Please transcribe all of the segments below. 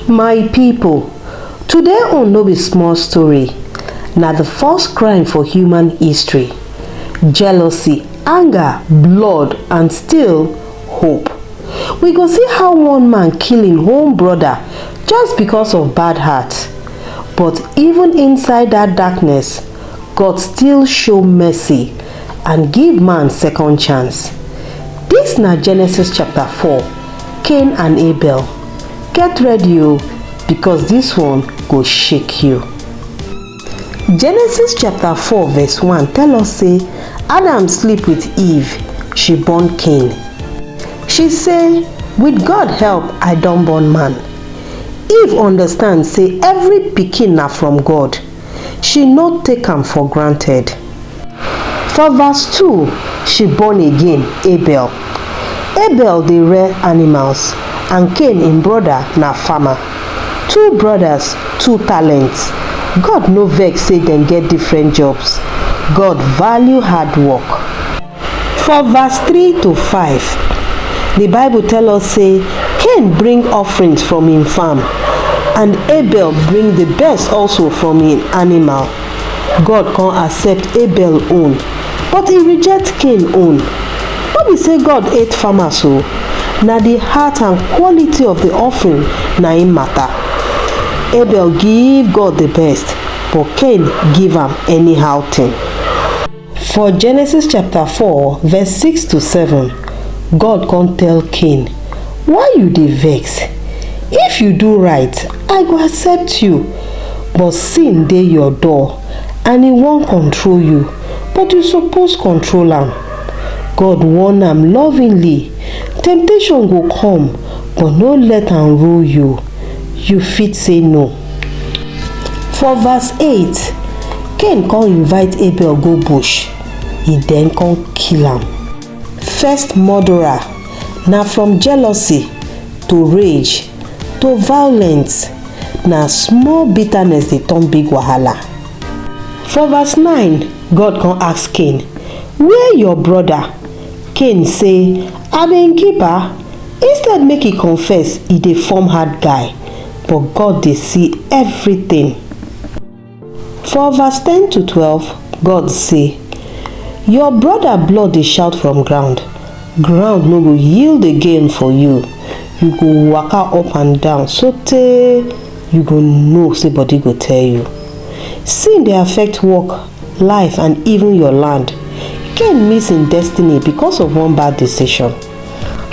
my people today on no be small story na the first crime for human history jealousy anger blood and still hope we go see how one man kill him own brother just because of bad heart but even inside that darkness God still show mercy and give man second chance. Dis na Genesis chapter 4, Cain and Abel. Get ready o because dis one go shake you. Genesis chapter 4 verse 1 tell us say Adam sleep with Eve, she born Cain. She say, with God help I don born man. Eve understand say every pikin na from God she no take am for granted. For verse two, she born again Abel. Abel dey rear animals and Cain im broda na farmer. Two brodas, two talents. God no vex sey dem get different jobs. God value hard work. For verse three to five, di Bible tell us say Cain bring offerings from im farm and Abel bring di best also from im animal. God come accept Abel own but e reject Cain own. No be say God hate farmers o, na di heart and quality of di offering na im matter. Abel give God di best but Cain give am anyhow thing. For Genesis chapter 4 verse 6 to 7, God come tell Cain, Why you dey vex? If you do right, I go accept you. But sin dey your door and e wan control you, but you suppose control am. God warn am lovingly, Temptation go come, but no let am rule you. You fit say no. For verse 8, Cain come invite Abel go bush, he then come kill am. First murderer na from jealousy to rage to violence, na small bitterness dey turn big wahala. For verse 9, God come ask Cain, Where your brother? Cain say, I be im keeper. Instead make he confess, he dey form hard guy. but God dey see everything. For verse 10 to 12, God say, Your brother blood dey shout from ground, ground no go yield again for you. You go waka up and down sotey you go know say body go tell you. Sin dey affect work, life and even your land. Cain miss im destiny because of one bad decision.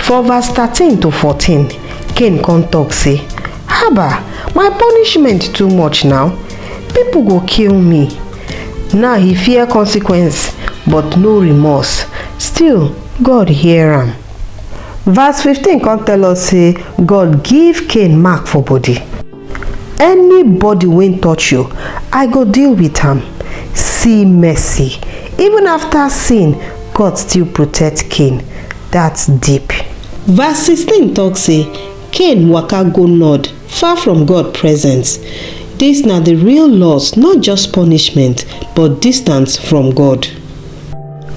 For verse thirteen to fourteen, Cain come talk say, Haba, my punishment too much now. People go kill me. Now he fear consequence, but no remorse. Still, God hear am. Verse fifteen come tell us say God give Cain mark for body. anybody wey touch you i go deal with am see mercy even after sin god still protect cain that's deep Verse 16 talk say, Cain waka go nod, far from God presence. This na the real loss, not just punishment, but distance from God.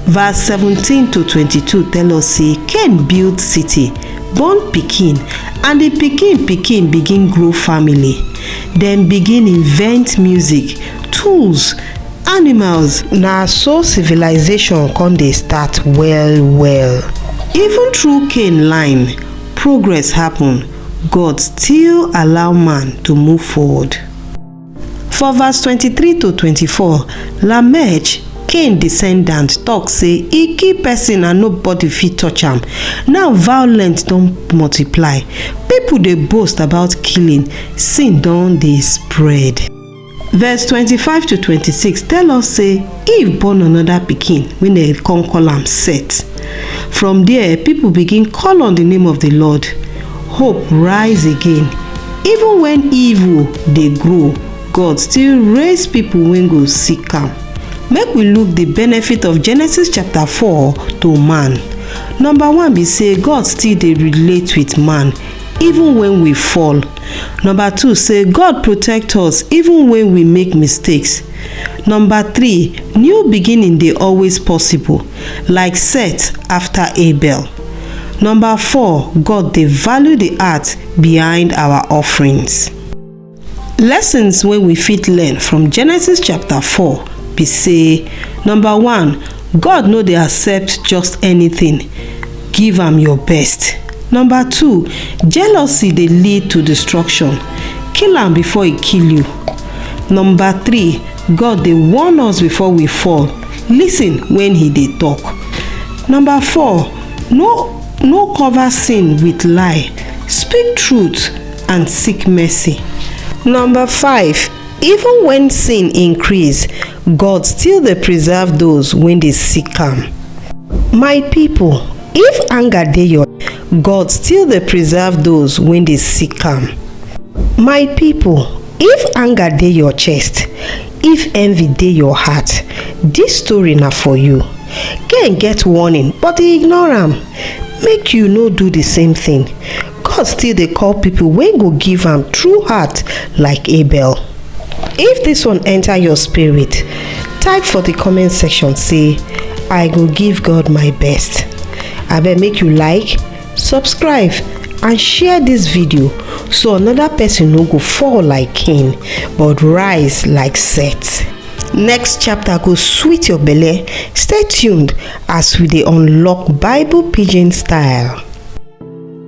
Verse 17 to 22 tell us say Cain build city, born pikin, and the pikin pikin begin grow family. Dem begin invent music, tools, animals. Na so civilization come dey start well well. Even through Cain line, progress happen. God still allow man to move forward. For verse 23 to 24, Lamech, Cain descendant, talk say e kill person and nobody fit touch am. Now violence don multiply. People dey boast about killing, sin don dey spread. Verse 25 to 26 tell us say Eve born another pikin wey dem come call am Seth. From there, people begin call on the name of the Lord. Hope rise again. Even when evil dey grow, God still raise people wey go seek am. Make we look the benefit of Genesis chapter 4 to man. Number one be say God still dey relate with man even when we fall. Number two say God protect us even when we make mistakes. Number three, new beginning dey always possible like Seth after Abel. Number four, God dey value the heart behind our offerings. Lessons wey we fit learn from Genesis chapter four be say, number one, God no dey accept just anything, give am your best. Number two, jealousy dey lead to destruction, kill am before e kill you. Number three, God dey warn us before we fall. Listen when he dey talk. Number four, no no cover sin with lie. Speak truth and seek mercy. Number five, even when sin increase, God still dey preserve those when dey seek am. My people, if anger dey your God still dey preserve those wey dey seek am. My people, if anger dey your chest, if envy dey your heart, dis story na for you. Cain get warning but e ignore am. Make you no do the same thing. God still dey call people wey go give am true heart like Abel. If this one enter your spirit, type for the comment section say I go give God my best. Abeg make you like, subscribe and share this video so another person no go fall like Cain but rise like Seth. Next chapter go sweet your belle. Stay tuned as we dey unlock Bible pidgin style.